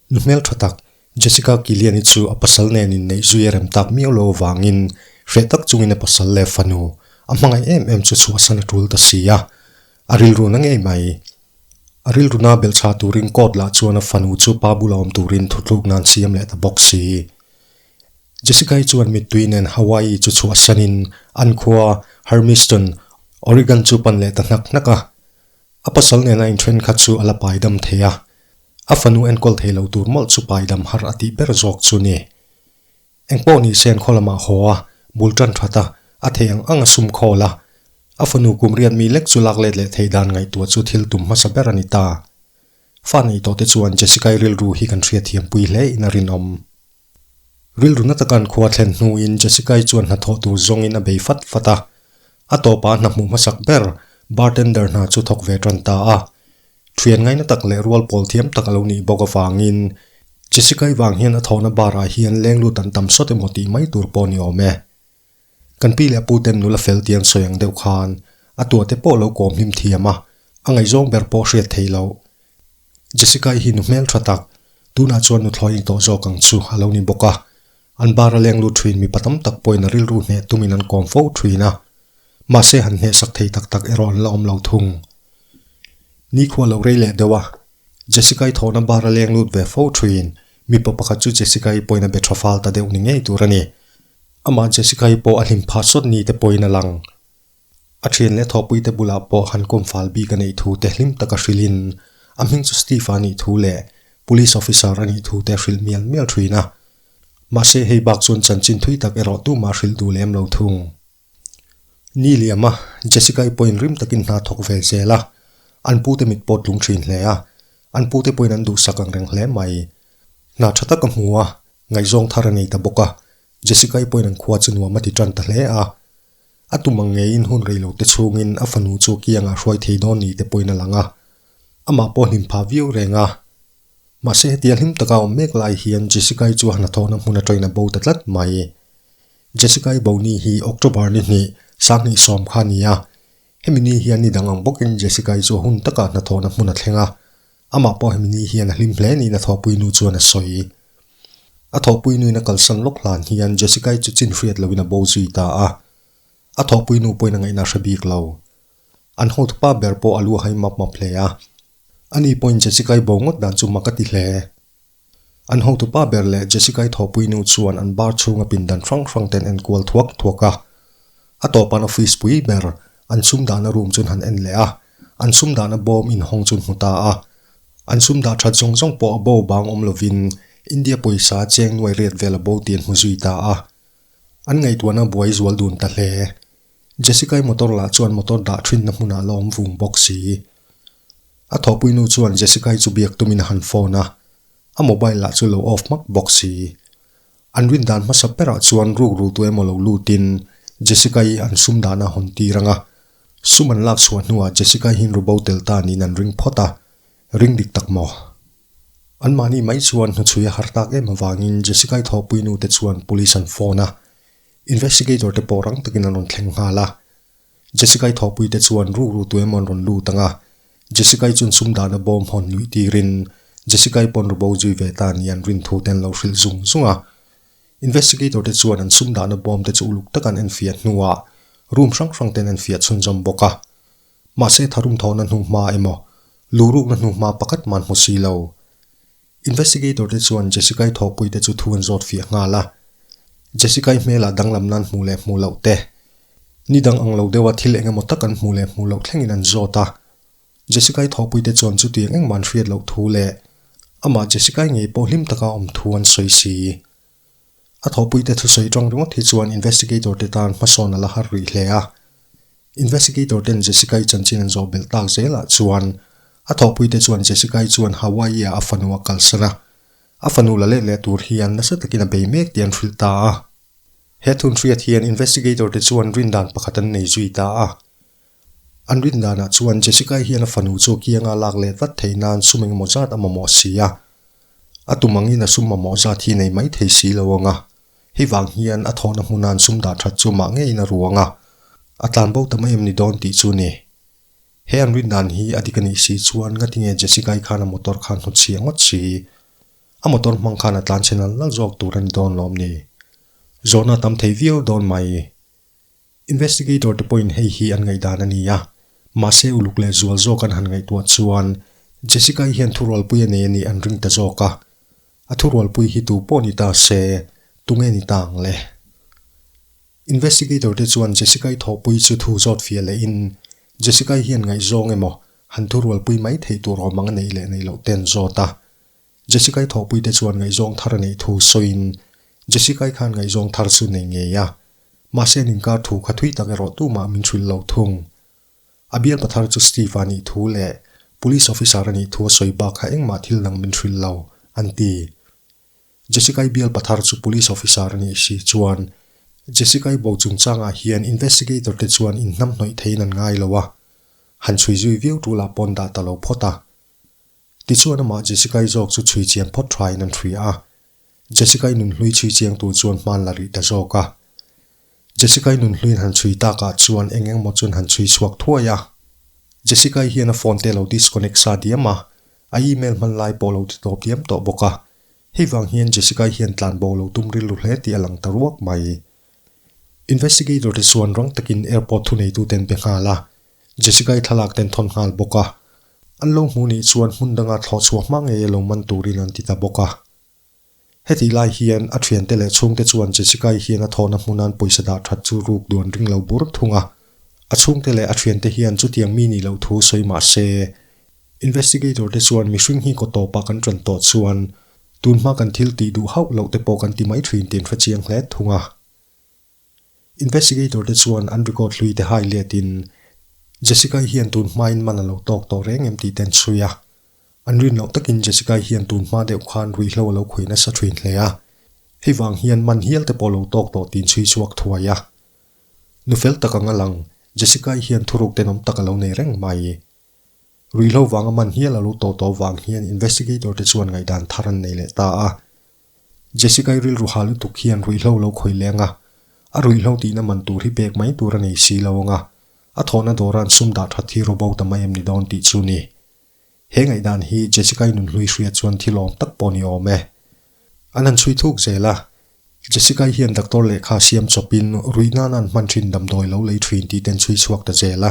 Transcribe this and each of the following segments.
Nu hmeltha tak Jessica Kiliani chu a pasal nen inneihzui a rem tak miau lo avangin hreh tak chungin a pasal leh fanu a hmangaih em em chu chhuahsan a tul ta si a. A rilru na ngei mai. A rilruna belhchha turin court lah chuan a fanu chu pa bulah awm turin thutlukna an siam leh ta bawk si. Jessica-i chuan mittui nen Hawaii chu chhuah sianin an khua Hermiston, Oregon chu pan leh ta hnak hnak a. A pasal nen a inthen kha chu a la paidam thei a. A fanu enkawl thei lo tur mawlh chu paidam har a tih ber zawk chu ni. Engpawh nise an khaw lamah haw a, bul tan that a, a thei ang ang a sum khawl a. A fanu kum riat mi lek chu lak let leh thei dan ngaihtuah chu thil tum hmasa ber a ni ta. Fan ei tawhte chuan Jessica-i rilru hi kan hriatthiam pui hle in a rinawm. Rilru na taka an khua thlen hnuin Jessica-i chuan hna thawh tur zawngin a bei fat fat a. A tawpah a hna hmuh hmasak ber, bartender hna chu thawk ve tan ta a. Thian ngaina tak leh rual pawl thiam tak a lo nih bawk avangin Jessica-i vang hian a thawhna bar-ah hian lenglut an tam sawt emaw tih mai tur pawh ni awm e. Kan pi leh pu ten nula fel ti an sawi ang deuh khan a tua te pawh lo kawm hlim thiam a, a ngaihzawng ber pawh hriat thei lo. Jessica-i hi nu hmel tha tak, tunah chuan nu thlawi ni tawh zawk ang chu a lo ni bawk a, an bar a leng lut thin mipa tam tak pawhin a rilru hneh tumin an kawm fo thin a, mahse han hneh sak thei tak tak erawh an la awm lo thung. Nikhua a lo rei leh deuh a, Jessica-i thawhna bar a leng lut ve fo thin, mipa pakhat chu Jessica-i pawhin a be tha fal ta deuh ni ngei tur a ni. Amah Jessica hi pawh a hlim phat sawt ni te pawhin a lang. A thian leh thawh pui te bulah pawh han kawmfal bik a neih thu te hlim taka hrilhin, a hming chu Steve-a nih thu leh Police Officer a nih thu te a hrilh mial mial thuin a. Mahse, hei bak chuan chanchin thui tak erawh tumah a hrilh duh lem lo thung. Ni liam a, Jessica i pawhin rim takin hna thawk ve zel a, an pu te mit pawh tlung thin hle a, an pu te pawhin an duhsak ang reng hle mai. Hna tha tak ka hmu a, ngaihzawng thar a nei ta bawk a, Jessica i pawhin an khua chu nuam a ti tan ta hle a. A tum ang ngei in hun rei lo te chungin a fanu chu kiang ah hruai thei dawn ni te pawhin a lang a, amah pawh hlim pha viau reng a. Mahse hetia hlim taka awm mek lai hian Jessica-i chuan hnathawkna hmun aṭawina bo ta tlat mai. Jessica i boni hi October ni hnih, Sanghnih sawm kha ni a. Hemi ni hian ni dang ang bawkin Jessica i chu hun taka hnathawhna hmun a thleng a. Amah pawh hemi ni hian a hlim hle niin a thawhpui nu chuan a sawi. A thawhpui nuin a kalsan lawk hlan hian Jessica i chu chin hriat loin a bo zui ta a. A thawhpui nu pawhin a ngaihna a hre bik lo. An hawt pa ber pawh a lu a hai map map hle a. A ni pawhin Jessica-i bo ngawt dan chu mak a ti hle. An hotu pa ber leh Jessica-i thawhpui nu chuan an bar chhunga pindan hrang hrang ten en kual thuak thuak a. A tawpan office pui ber, an sum dahna room chuan han en leh a, an sum dahna bawm inhawng chuan hmu ta a. An sum dah that zawng zawng pawh a bo bang awm lovin India pawisa cheng nuai riat vel a bo tih an hmu zui ta a. An ngaihtuahna buai zual dun ta hle. Jessica-i motor lah chuan motor dah thinna hmunah la awm vung bawk si. A thawhpui nu chuan Jessica-i chu biak tumin a han phone a, a mobile lah chu lo off hmak bawk si. An rin dan hmasa berah chuan rukru tu emaw lo lutin Jessica-i an sum dan a hawn tir anga. Sum an lak chhuah hnuah Jessica-i hin rubo tel ta niin an ring phawt a, ring dik tak maw. Anmahni mai chuan hnuchhuia har tak em avangin Jessica-i thawhpui nu te chuan police an phone a, Investigator te pawh rang takin an rawn thleng nghal a. Jessica-i thawhpui te chuan ruk ruk tu emaw an rawn lut ang a. Jessica-i chuan sum dahna bawm hawn nuih tirin Jessica-i paw'n ru bo zui ve ta ni an rin thu te an lo hrilh zung zung a. Investigator te chuan an sum dahna bawm te chu uluk taka an enfiah hnuah room hrang hrang te an enfiah chhunzawm bawk a. Mahse tharum thawhna hnu hma emaw lu rukna hnu hma pakhat man hmu si lo. Investigator te chuan Jessica-i thawkpui te chu thu an zawt fiah nghal a. Jessica-i hmelah danglam nan hmuh leh hmuh loh te. Ni dang ang lo deuha thil eng emaw tak an hmuh leh hmuh loh thlengin an zawt a. Jessica-i thawkpui te chuan chuti eng engmah an hriat loh thu leh amah Jessica-i ngei pawh hlim taka awm thu an sawi si. A thawhpuite thusawi tawng ringawt hi chuan investigator te tan hmasawn a la har rih hle a. Investigator ten Jessica-i chanchin an zawh belh tak zel ah chuan a thawhpuite chuan Jessica-i chuan Hawaii-ah a fanu a kalsan a. A fanu la let leh tur hian nasa takin a bei mek tih an hrilh ta a. He thun hriat hian investigator te chuan rindan pakhat an nei zui ta a. An rin danah chuan Jessica-i hian a fanu chu a kianga lak leh tlat theih nan sum engemaw zat a mamawh si a. A tumangin a sum mamawh zat hi nei mai thei si lo ang a. Hei vang hian a thawhna hmuna an sum dah that chu mah ngeiin a ruang a. A tlan bo ta mai em ni dawn tih chu ni. He an rin dan hi a dik a nih si chuan ngatinge Jessica-i khan a motor khan hnut chhia ngawt si i a motor hmang khan a tlan chhe nal nal zawk tur a ni dawn lawm ni. Zawhna a tam thei viau dawn mai. Investigator te pawhin hei hi an ngaihdan a ni a, mahse uluk leh zual zawk an han ngaihtuah chuan Jessica-i hian thurualpui a nei a nih an ring ta zawk a. A thurualpui hi tu pawh ni ta se, tunge ni ta ang le? Investigator te chuan Jessica-i thawhpui chu thu zawt fiah leh in, Jessica-i hian ngaihzawng emaw, han thurualpui mai theih tur awm ang a nei leh nei loh ten zawt a. Jessica-i thawhpuite chuan ngaihzawng thar a neih thu sawiin, Jessica-i khan ngaihzawng thar chu nei ngei a, mahse an inkar thu kha thui tak erawh tumah min hrilh lo thung. A bialpa thar chu Steve-a nih thu leh Police Officer-a nih thu a sawi bak kha engmah thil dang min hrilh lo, an ti. Jessica-i bialpa thar chu Police Officer a nih si chuan, Jessica-i bo chungchangah hian Investigator te chuan inhnam hnawih theiin an ngai lo a, han chhui zui viau tul ah pawn dah ta lo phawt a. Tichuan amah Jessica-i zawk chu chhui chiang phawt thain an hria a. Jessica-i nunhlui chhui chiang tur chuan hmaan la rih ta zawk a. Jessica-i nunhluin han chhui tak ah chuan eng engmaw chuan han chhui chhuak thuai a. Jessica-i hian a phone te a lo disconnect sa diam a, a email hman lai pawh a lo ti tawp diam tawh bawk a. Hei vang hian Jessica-i hian tlan bo a lo tum rilru hle tih a lang ta ruak mai. Investigator te chuan rang takin airport thuneituten be nghal a. Jessica-i thlalak ten thawn nghal bawk a, an lo hmuh nih chuan hmun danga thlawh chhuah hma ngei a lo man turin an ti ta bawk a. Heti lai hian a thiante leh chhungte chuan Jessica-i hian a thawhna hmun a'n pawisa dah that chu ruk duan ring lo bur thung a. A chhungte leh a thiante hian chutiang mi nih loh thu sawi mah se, investigator te chuan mihring hi kaw tawpah kan ṭan tawh chuan tunhma kan thil tih duh hauh loh te pawh kan ti mai ṭhin tiin hre chiang hle thung a. Investigator te chuan an record hlui te highlight in Jessica-i hian tun hmain man a lo tawk tawh reng em tih te an sawi a. An rin loh takin Jessica-i hian tun hma deuh khan ruihhlo a lo khuih nasa thin hle a. Hei vang hian man hial te pawh lo tawk tawh tiin chhui chhuak thuai a. Nu fel tak anga lang, Jessica-i hian thuruk tenawm tak a lo nei reng mai. Ruihhlo vanga man hial a lo tawh tawh vang hian investigator te chuan ngaihdan thar an nei leh ta a. Jessica-i rilru ha lutuk hian ruihhlo lo khawih leng a, a ruihhlo tihna man tur hi pek mai tur a nei si lo ang a, a thawhna dawran sum dah that hi robot a mai em ni dawn tih chu ni. He ngaihdan hi Jessica-i nunhlui hria chuan thil awm tak pawh ni awm e. An han chhui thuk zel a, Jessica-i hian doctor lehkha siam chawpin rui nana'n hman thin damdawi lo lei thin tih te an chhui chhuak ta zel a,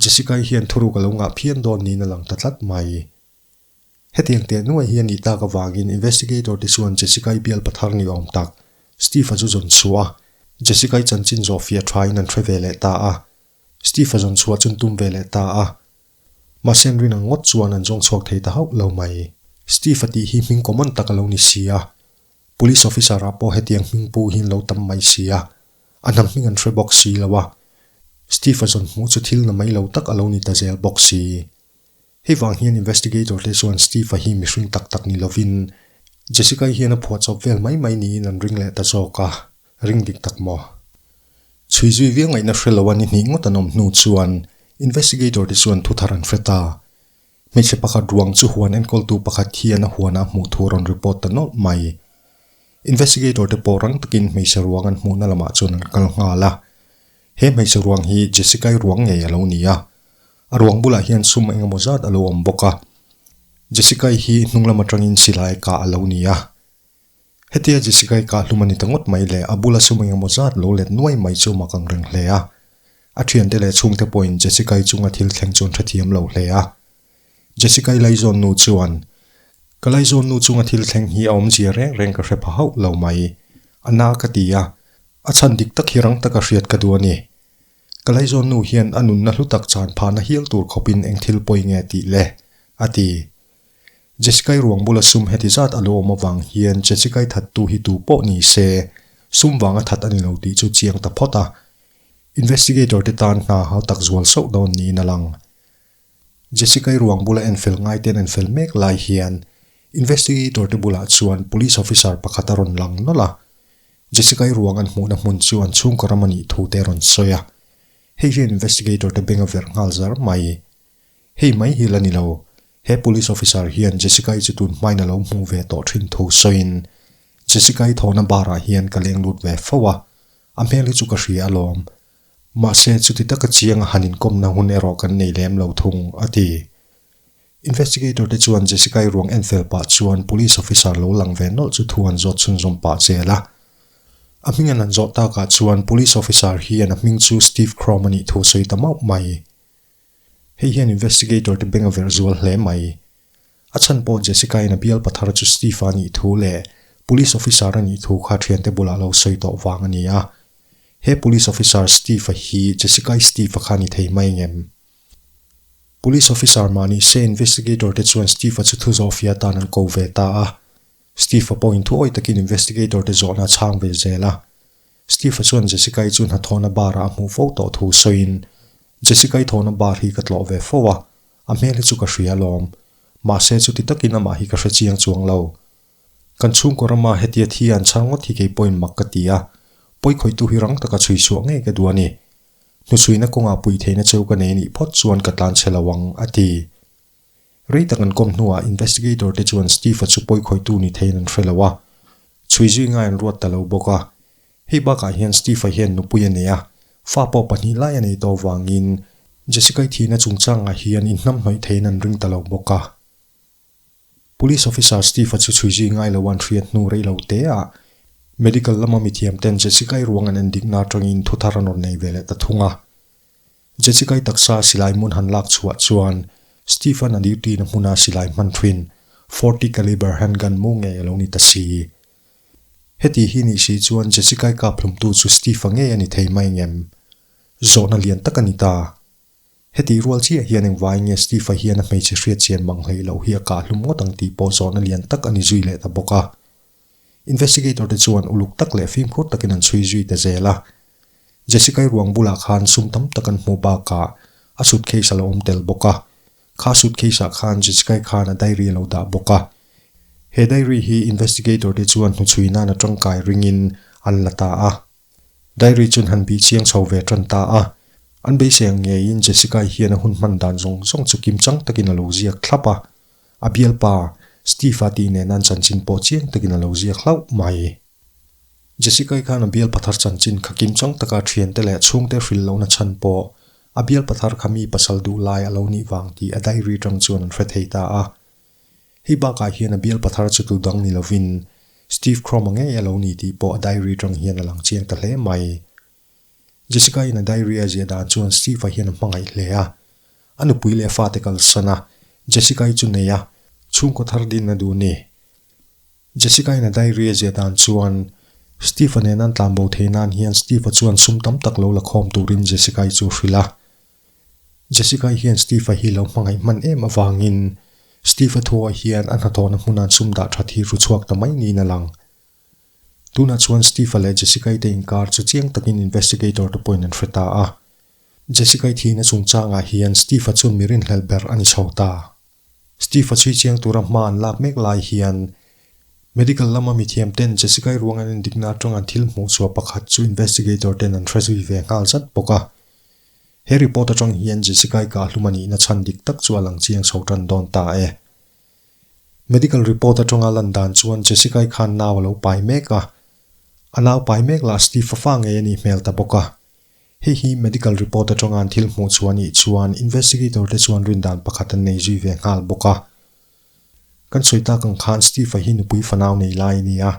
Jessica-i hian thuruk a lo ngah phian dawn niin a lang ta tlat mai. Hetiang teh nuai hi a nih tak avangin investigator te chuan Jessica-i bial pa thar ni awm tak Steve-a chu zawn chhuah a, Jessica-i chanchin zawh fiah thain an hre ve leh ta a, Steve-a zawn chhuah chu'n tum ve leh ta a. Mahsen rin ang ngawt chuan an zawng chhuak thei ta hauh lo mai. Steve-a tih hi hming common tak a lo ni si a, Police officer-ah pawh hetiang hming pu hi an lo tam mai si a, a hnam hming an hre bawk si lo a, Steve-a zawn hmuh chu thil na mai lo tak a lo ni ta zel bawk si. Hei vang hian investigator te chuan Steve-a hi mihring tak tak ni lovin, Jessica-i hian a phuah chawp vel mai mai niin an ring leh ta zawk a, ring dik tak maw? Chhui zui viau ngaihna hre lo a ni hnih ngawt an awm hnu chuan investigator te chuan thuthar an hre ta. Hmeichhe pakhat ruang chu huan enkawltu pakhat hian a huanah hmuh tur a rawn report ta nawlh mai. Investigator te pawh rang takin hmeichhe ruang an hmuhna lamah chuan an kal nghal a. He hmeichhe ruang hi Jessica-i ruang ngei a lo ni a. A ruang bulah hian sum eng emaw zat a lo awm bawk a. Jessica-i hi hnunglam atangin silai a kah a lo ni a. Hetia Jessica-i kahhlum a ni ta ngawt mai le, a bula sum eng emaw zat lo let nuai mai chu mak ang reng hle a. A thiante leh chhungte pawhin Jessica-i chunga thil thleng chuan hrethiam lo hle a. Jessica-i laizawn nu chuan, Ka laizawn nu chunga thil thleng hi a awmzia reng reng ka hre pha hauh lo mai. A na ka ti a, a chhan dik tak hi rang taka hriat ka duh a ni. Ka laizawn nu hian a nunna hlu tak chan phahna hial tur khawpin eng thil pawi nge tih le? a ti. Jessica-i ruang bula sum heti zat a lo awm avang hian Jessica-i thattu hi tu pawh ni se, sum vanga that a ni lo tih chu chiang ta phawt a. Investigator te tan hna hau tak zual sauh dawn niin a lang. Jessica-i ruang bula en fel ngai te an en fel mek lai hian Investigator te bulah chuan Police Officer pakhat a rawn lang nawlh a. Jessica-i ruang an hmuhna hmun chu an chhungkaw ram a nih thu te a rawn sawi a. Hei hian Investigator te beng a verh nghal zar mai. Hei mai hi la ni lo, he police officer hian Jessica-i chu tun hmain a lo hmu ve tawh thin thu sawiin, Jessica-i thawhna barah hian ka leng lut ve fo a, a hmel hi chu ka hria alawm. Mahse, chuti taka chianga han inkawmna hun erawh kan nei lem lo thung, a ti. Investigator te chuan Jessica-i ruang en fel pah chuan police officer lo lang ve nawlh chu thu an zawt chhun zawm pah zel a. A hming an han zawh takah chuan police officer hian a hming chu Steve Krom a nih thu sawi ta mauh mai. Hei hian investigator te beng a verh zual hle mai. A chhan pawh Jessica in a bial pathar chu Steve a nih thu leh police officer a nih thu kha thiante bulah lo sawi tawh vang a ni a. He police officer Steve hi Jessica-i Steve kha a ni thei mai ngem. Police officer mahni se investigator te chuan Steve-a chu thu zawh fiah tan an ko ve ta a. Steve-a pawh inthuawi takin investigator-te zawhna a chhang ve zel a. Steve-a chuan Jessica-i chu hnathawhna bar-ah a hmuh fo tawh thu sawiin, Jessica-i thawhna bar hi ka tlawh ve fo a, a hmel hi chu ka hria lawm. Mahse, chuti takin amah hi ka hre chiang chuang lo. Kan chhungkaw rama hetia thi an chhang ngawt hi kei pawhin mak ka ti a, pawikhawitu hi rang taka chhuisuah ngei ka duh a ni. Hnusuina kawngah puitheihna cheu ka nei anih phawt chuan ka tlan chhe lo ang, a ti. Rei tak an kawm hnuah investigator te chuan Steve-a chu pawi khawitu ni theiin an hre lo a, chhui zui ngai an ruat ta lo bawk a. Hei bakah hian Steve-a hian nupui a nei a, fa pawh pahnih lai a nei tawh avangin Jessica-i thihna chungchangah hian inhnam hnawih theiin an ring ta lo bawk a. Police officer Steve-a chu chhui zui ngai loa an hriat hnu rei lo teah medical lama mithiam ten Jessica-i ruang an en dikna atangin thu thar an rawn nei ve leh ta thung a. Jechikai taksa silai hmun han lak chhuah chuan Stephen a dirtina hmuna silai hman thuin forty caliber handgun mu ngei a lo ni ta si. Heti hi nih si chuan Jechikai kap hlumtu chu Stephen ngei a ni thei mai ngem? Zawhna lian tak a ni ta. Heti rual chiah hian engvai nge Stephen hian a hmeichhe hriatchian bang hleih loh hi a kah hlum ngawt ang tih pawh zawhna lian tak a ni zui leh ta bawk a. Investigator te chuan uluk tak leh fimkhur takin an chhui zui ta zel a. Jessica-i ruang bulah khan sum tam tak an hmu bakah a suitcase a lo awm tel bawk a. Kha suitcase-ah khan Jessica-i khan a diary a lo dah bawk a. He diary hi investigator te chuan hnuchhui nan a tangkai ringin an la ta a. Diary chu an han bih chiang chho ve tan ta a. An beiseng ngeiin Jessica-i hian a hun hman dan zawng zawng chu kim chang takin a lo ziak thlap a. A bialpa Steve-a tih nen an chanchin pawh chiang takin a lo ziak hlauh mai. Jessica-i khan a bialpa thar chanchin kha kim chang taka thiante leh chhungte hril lohna chhan pawh a bialpa thar kha mi pasal duh lai a lo nih vang tih a diary tang chuan an hre thei ta a. Hei bakah hian a bialpa thar chu tu dang ni lovin Steve Croma ngei a lo ni tih pawh a diary tang hian a lang chiang ta hle mai. Jessica-in a diary a ziah dan chuan Steve-a hian a hmangaih hle a. A nupui leh a fate kalsan a, Jessica-i chu nei a, chhungkaw thar din a duh ni. Jessica-in a diary a ziah dan chuan Steve-a nen an tlanbo thei nan hian Steve-a chuan sum tam tak lo la khawm turin Jessica-i chu a hrilh a. Jessica-i hian Steve-a hi lo hmangaih hman em avangin Steve-a thuaah hian a hnathawhna hmuna an sum dah that hi ru chhuak ta mai niin a lang. Tunah chuan Steve-a leh Jessica-i te inkar chu chiang takin investigator-te pawhin an hre ta a. Jessica-i thihna chungchangah hian Steve-a chuan mi rinhlelh ber a ni chho ta. Steve-a chhui chiang tura hma an lak mek lai hian medical lama mithiamten Jessica-i ruang an endikna atanga thil hmuhchhuah pakhat chu investigator-ten an hre zui ve nghal zat bawk a. He report atang hian Jessica-i kahhlum a nihna chhan dik tak chu a lang chiang chho tan dawn ta e. Medical report atanga lan dan chuan Jessica-i khan nau a lo pai mek a, a nau pai mek lah Steve fa fa ngei a nih hmel ta bawk a. Hei hi medical report atanga an thil hmuh chu a nih chuan investigator te chuan rindan pakhat an nei zui ve nghal bawk a. Kan sawi tak ang khan Steve-a hi nupui fanau nei lai a ni a,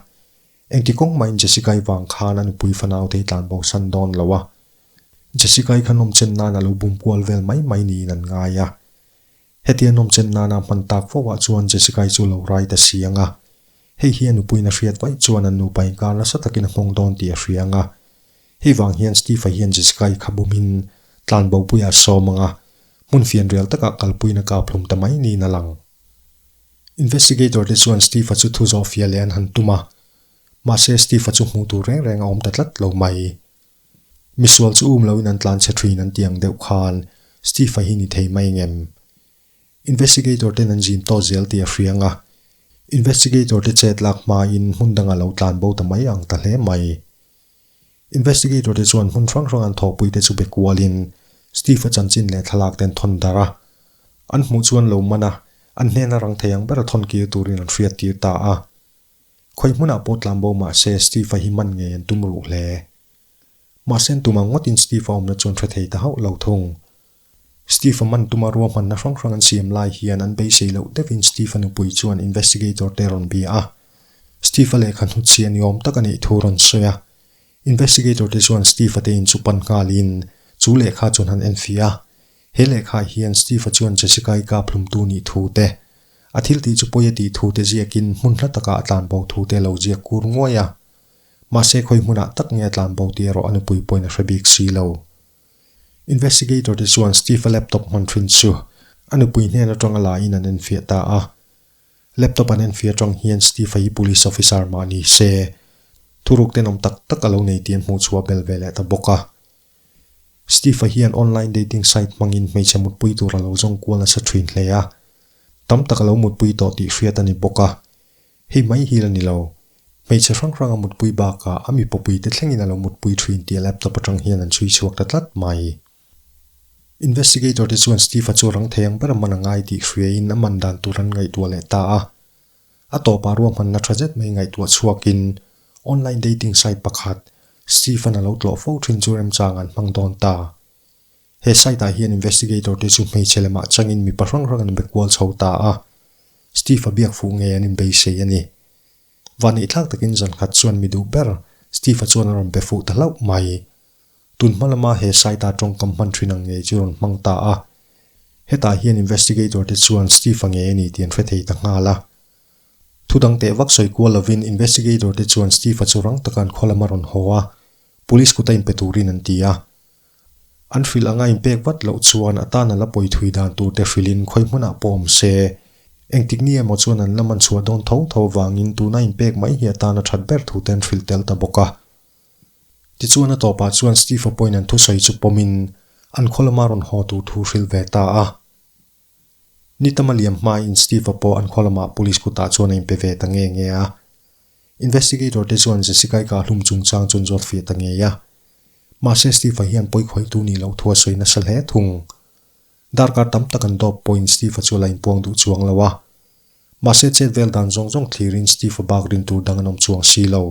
engti kawng mahin Jessica-i vang khan a nupui fanau te hi tlan bo san dawn lo a. Jessica-i khan awmchen nan a lo bum kual vel mai mai niin an ngai a. Hetia nawmchem nana hman tak fauhah chuan Jessica-i chu lo rai ta si ang a. Hei hian nupuiin a hriat vaih chuan an nupa inkar nasa takin a nghawng dawn tih a hria ang a. Hei vang hian Steve-a hian Jessica-i kha bumin tlan bopuia a sawm ang a, hmun fianrial takah kalpuiin a kap hlum ta mai niin a lang. Investigator te chuan Steve-a chu thu zawhfia leh an han tum a, mahse Steve-a chu hmuh tur reng reng a awm ta tlat lo mai. Misual chu um loin an tlan chhe thin an tiang deuh khan Steve-a hi ni thei mai ngem. Investigator-ten an zim tawh zel tih a hria nga. Investigator-te chet lak hmain hmun dangah lo tlan bo ta mai ang ta hle mai. Investigator-te chuan hmun hrang hrang an thawkpui te chu be kualin Steve-a chanchin leh thlalak ten thawn darh a. An hmuh chu an lo man a, an hnena rang thei ang bera thawn kir turin an hriat tir ta a. Khawi hmunah pawh tlan bo mah se Steve-a hi man ngei an tum ruh hle. Mahse an tum ang ngawtin Steve-a awmna chuan hre thei ta hauh lo thung. Steve-a man tuma ruahmanna hrang hrang an siam lai hian an beisei loh deuhin Steve-a nupui chuan investigator te rawn bia a. Steve-a lehkha hnutchhiah ni awm taka neih thu rawn sawi a. Investigator te chuan Steve-a te in chu pan nghalin chu lehkha chuan han en fih a. He lehkhah hian Steve-a chuan Jessica-i kap hlumtu nih thu te, A thiltih chu pawi a tih thute ziakin hmun hla takah a tlanbo thute a lo ziak kur nguai a. Mahse khawi hmunah tak nge a tlanbo tih erawh a nupui pawhin a hre bik si lo. Investigator te chuan Steve-a laptop hman thin chu a nupui hnen atanga lahin an enfiah ta a. Laptop an enfiah atang hian Steve-a hi police officer mah ni se, thuruk tenawm tak tak a lo nei tih an hmuhchhuah bel ve leh ta bawk a. Steve-a hian online dating site hmangin hmeichhe mutpui tur a lo zawng kual nasa thin hle a. Tam tak a lo mutpui tawh tih hriat a ni bawk a. Hei mai hi la ni lo, hmeichhe hrang hranga mutpui bakah a mipa puite thlengin a lo mutpui thin tih laptop atang hian an sawi chhuak ta tlat mai. Investigator te chuan Steve-a chu rang thei ang ber a man a ngai tih hria in a man dan tur an ngaihtuah leh ta a. A tawpah ruahman la tha zet mai ngaihtuah chhuakin online dating site pakhat Stephen a lo tlawh fo thin chu remchang an hmang dawn ta. He site ah hian investigator te chu hmeichhe lemah changin mipa hrang hrang an be kual chho ta a. Steve a biak fuh ngei an inbeisei a ni. Vahneih thlak takin zankhat chuan mi duh ber Steve-a chuan a rawn be fuh ta hlauh mai. Tun hma lama he site-a tawngkam hman thin ang ngei chu rawn hmang ta a. Hetah hian investigator te chuan Steve-a nge a ni tih an hre thei ta nghal a. Thu dang teh vak sawi kual lovin investigator te chuan Steve-a chu rang taka an khaw lama rawn haw a, police kuta inpe turin an ti a. An hrilh anga inpek vat loh chuan a tana la pawi thui dan tur te hrilhin khawi hmuna pawh awm se, engtik ni emaw chuan an la man chhuah dawn tho tho avangin tuna inpek mai hi a tana that ber thu te an hrilh tel ta bawk a. Tichuan a tawpah chuan Steve-a pawhin an thusawi chu pawmin an khawlama rawn haw tur thu hril ve ta a. Ni tama liam hmain Steve-a pawh an khawlama police kutah chuan a inpe ve ta nge nge a. Investigator te chuan Jessica-ika a hlum chungchang chuan zawt feh ta ngei a. Mahse Steve-a hian pawikhawitu ni loh thu a sawi nasa hle thung. Darkar tam tak an dawp pawhin Steve-a chu a la inpuang duh chuang lo a. Mahse chet vel dan zawng zawng thlirin Steve-a bak rin tur dang an awm chuang si lo.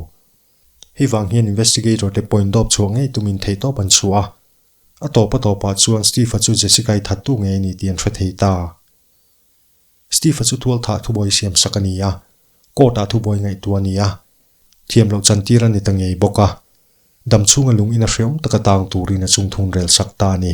Hei vang hian investigator te point dawp chhuah ngei tumin theih tawp an chhuah a. A tawpa tawpah chuan Steve-a chu Jessica-i thattu ngei a ni tih an hre thei ta. Steve-a chu thualtha thubawi siamsak a ni a, court-ah thubawi ngaihtuah a ni a, thiam loh chantira ni ta ngei bawk a, dam chhunga lungina hreawm taka tang turin a chungthun rel sak ta a ni.